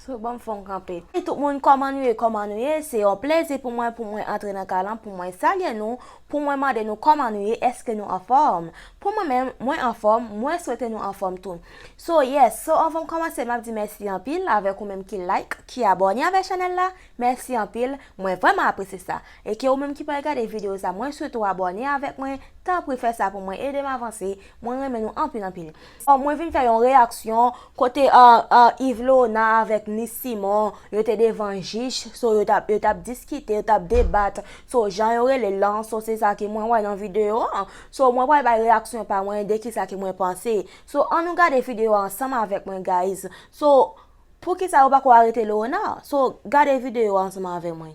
Sou banm fon kanpe. Hey tout moun koman nou ye koman nou ye se yon plezi pou mwen pou mwen antre nan kay lan pou mwen salye nou pou mwen mande nou koman nou ye eske nou anfom pou mwen menm mwen anfom mwen swete nou anfom tou so yes so anvanm komanse map di mèsi anpil avek ou menm ki like ki abone avek chanel la mèsi anpil mwen vreman apresye sa eke ou menm ki pral gade video sa mwen swete ou abone avek mwen tanpri fè sa pou mwen edem avanse mwen renmen nou anpil anpil. Bon mwen vin fè yon reyaksyon kote Yvlona avèk Nice Simon yo te devan jij so yo tap yo tap diskite yo tap debat so jan yo relel lan so se sa ke mwen wè nan video an so mwen pral bay reyaksyon pa mwen de kisa ke mwen panse so an nou gade video an ansanm avèk mwen guys so poukisa yo pako arete Leonard so gade video an ansanm avè mwen.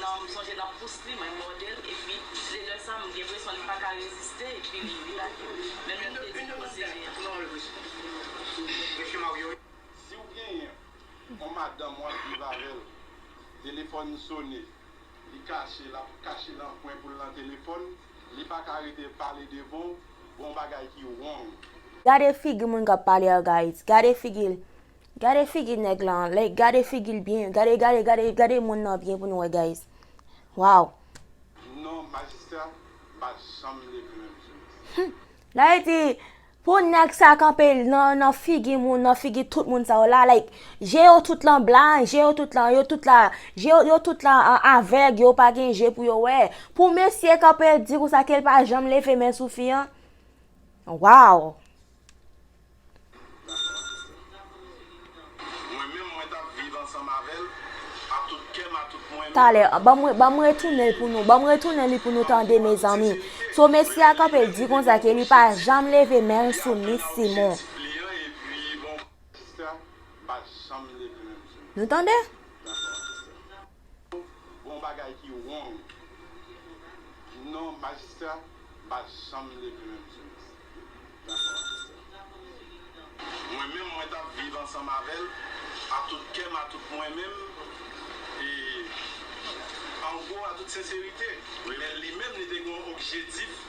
Nan m sonje lap pous li mwen mòdel epi se lè sa m gen presyon li paka reziste epi li lage m menm lè m te di non se vre. Siw genyen on madanm wap viv avèl telefòn sone li kache lap kache nan kwen poul nan telefòn li paka rete pale devanw gon bagay ki wrong. Gade figi moun kap pale ak Ayiti gade figil Gade figi nèg lan like gade figil byen gade gade gade gade moun nan byen pou nou wè guys waw. Non majistra pa janm leve menm jodi. Humm la yo di Pou nèg sa kanpe nan figi moun nan figi tout moun sa yo la like je yo tout lan blan je yo tout lan yo tout la je yo tout la avèg yo pa gen je pou yo wè pou mesye kanpe di konsa kel pa janm leve men sou fi an waww. Talè an banm banm retounen l pou nou banm retounen li pou nou tande mezanmi so mesye a kanpe di konsa ke li pa janm leve men l sou miss Simon nou tande. Gon bagay ki wong non majistra pa janm leve menm sou miss dakò majistra. Mwen menm mwen tap viv ansanm avèl a tout kèm a tout mwen menm e an gwo a tout senserite men li menm li te gon objedif.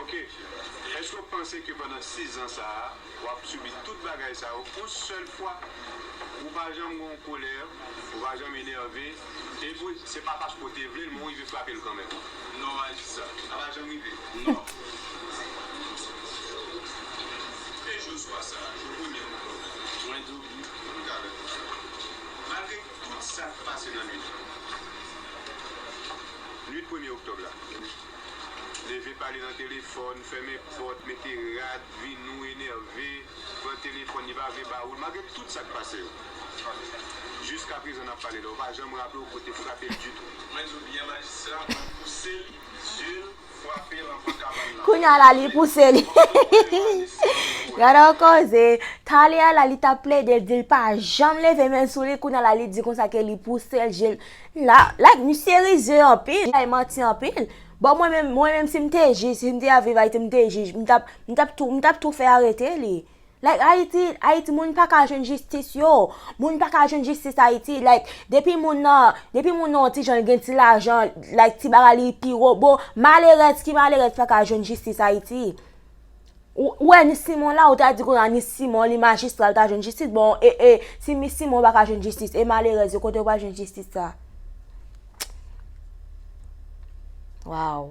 Ok Eske w panse ke pandan 6 zan sa a wap sibi tout bagay sa yo on sèl fwa? Ou pa janm gen yon kolè, ou pa janm enève, epi se pa paske w te vle l men ou rive frape l kanmenm? Non Majis sa pa janm rive. Non Eske jou swa sa a, jou premye Oktòb la, mwen di w wi, m ka reponn sa. Malgre. Tout sa k pase nan nuit lan. Nuit premye oktòb la. Leve pale nan telefòn, fèmen pòt, mete rad, vinou, enève, pran telefòn li pa vle ba ou l. Malgre tout sa k pase yo. Jiskaprezan n ap pale la, ou pa janm raple w ke w te frape l ditou. Mwen di w byen majistra, mwen pouse l, zye l. Kounya la li pouse li. Gade yon koze. Tale a la li ta plede l di l pa janm leve men l sou li kounya la li di konsa ke li pouse l je l. La, la misye rize anpil, li bay manti anpil. Bon mwen menm, mwen menm si m te jij, si m te a viv Ayiti m te jij, m tap, m tap tou, m tap tou fè arete li. Like ayiti ayiti moun paka jwenn jistis yo moun paka jwenn jistis ayiti like depi moun nan depi moun nan yon ti jan li gen ti lajan like ti bagay li pi robo malerèz ki malerèz paka jwenn jistis ayiti ou wè ni simon la ou ta di konya ni simon li majistra li ta jwenn jistis bon e e si mi simon paka jwenn jistis e malerèz yo kote yo pral jwenn jistis sa waww.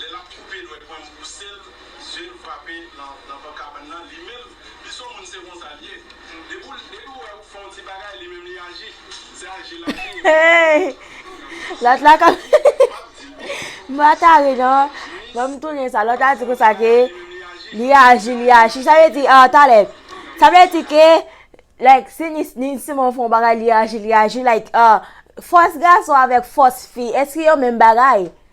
Lè l ap koupe nwè pwen m pouse l zye l frape nan pò kabann nan li menm li son moun se konsa l ye depi l wè ou fè yon ti bagay li menm li aji se aji l aji epi l ap di m m pa ka ri non fò m tounen sa lòt la di konsa ke li aji li aji sa vle di a talè sa vle di ke like si Nini Simon fè yon bagay li aji li aji like a fòs gason avèk fòs fi èske yo menm bagay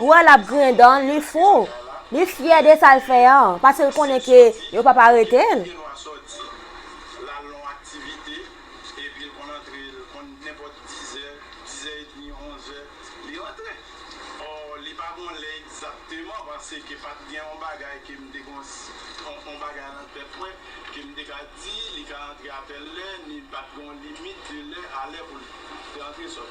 Ou wè lap griyen dan l, li fou. Li fyè de sa l fè an, paske l konnen ke yo pap arete l.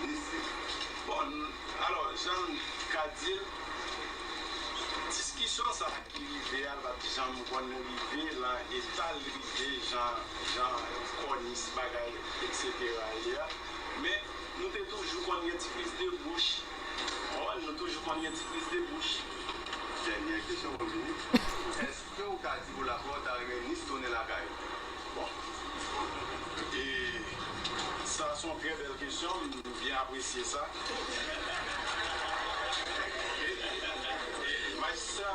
Desi, Bon, alò, jan m ka di l, diskisyon sa a ki rive a l pa t janm konn rive lan eta l rive jan, jan kònis bagay eksetera ye a. Men, nou te toujou konn gen ti plis de bouch. Ò, nou toujou konn gen ti plis de bouch. Dènyè kesyon, mwen vini. Èske. Freo ou ka di pou la paw ta renmen nice tounen lakay bon e sa son trè bèl kesyon m byen apresye sa maistra.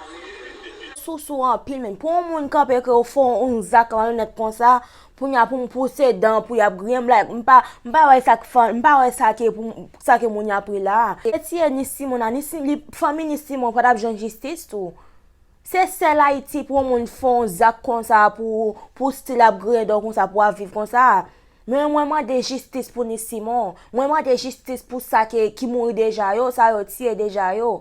Sousou anpil men pou yon moun kanpe ke yo fè yon zak malonèt konsa kounya pou m pouse dan pou yap griyenm like m pa m pa wè sak fè m pa wè sa ke pou sa ke moun yap ri la a. Yo tiye Nice Simon a Nice Fanmi Nice Simon pa tap jwenn jistis tou. Se sèl ayiti pou yon moun fè yon zak konsa pou pou stil ap griyen dò konsa pou ap viv konsa men mwen mande jistis pou ni simon mwen mande jistis pou sa ke ki mouri deja yo sa yo tiye deja yo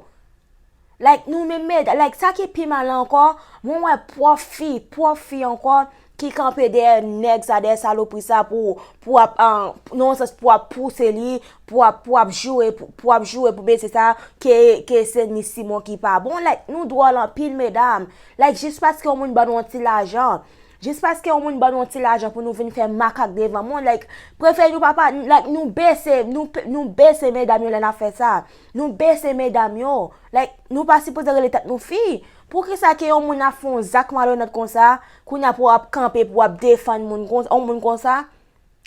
like nou menm meda like sa ki pi mal ankò mwen wè pwòf fi pwòf fi ankò ki kanpe dèyè nèg sa dèyè salopri sa pou pou ap nan yon sans pou ap pouse li pou ap pou ap joure pou ap joure pou mesye sa ke ke se ni Simon ki pa bon like nou dwòl anpil medam like jis paske yon moun ban nou yon ti lajan jis paske yon moun ban nou yon ti lajan pou nou vin fè makak devan moun like prefè nou pa pa like nou bese nou nou bese medam yo lè na fè sa nou bese medam yo like nou pa sipoze rele tèt nou fi poukisa ke yon moun ap fè yon zak malonèt konsa Kounya pou ap kanpe pou ap defann moun konsa, yon moun konsa,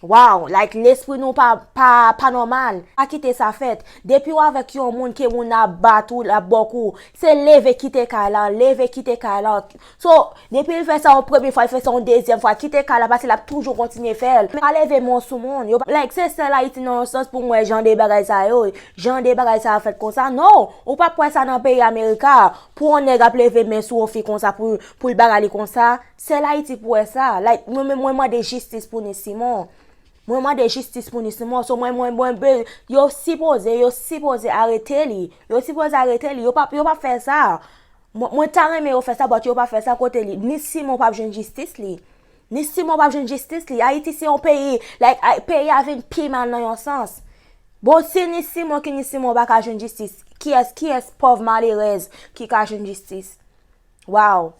waww, like lespri nou pa, pa, pa nòmal, pa kite sa fèt, depiw avèk yon moun ke moun nan ap bat ou, lap baw kou, se leve kite kay lan, leve kite kay lan, so, depil fè sa yon premye fwa, li fè sa yon dezyèm fwa, kite kay lan paske lap toujou kontinye fèl, men pa leve mò sou moun, yo pa, like se sèl ayiti nan yon sans poum wè jan de bagay sa yo, jan de bagay sa yo fèt konsa, no, ou pap wè sa nan peyi amerika, pou yon nèg ap leve men sou yon fi konsa, Poul bagay li konsa, sel ayiti pou wè sa, like mwen menm mwen mande jistis pou ni simon, mwen mande jistis pou ni simon, so mwen mwen mwen be, yo si poze, yo si poze arete li, yo si poze arete li, yo pa yo pa fè sa, mwen mwen ta renmen yo fè sa but yo pa fè sa kote li, ni simon pap jwenn jistis li, ni simon pap jwenn jistis li, ayiti se yon peyi, like ay peyi a vin pi mal nan yon sans. Bon si ni simon ki ni simon pa ka jwenn jistis, kiyès kiyès pòv malerèz ki ka jwenn jistis? Waw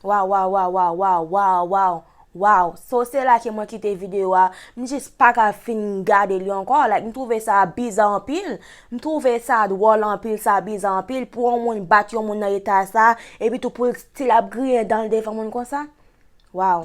waw waw waw waw waw waw waw waw so se la ke mwen kite video a m jis pa ka fin gade li anko like m twouve sa biza anpil m twouve sa dwòl anpil sa biza anpil pou yon moun bat yon moun nan eta sa epi tou pou l stil ap griyen dan l devan moun konsa waw.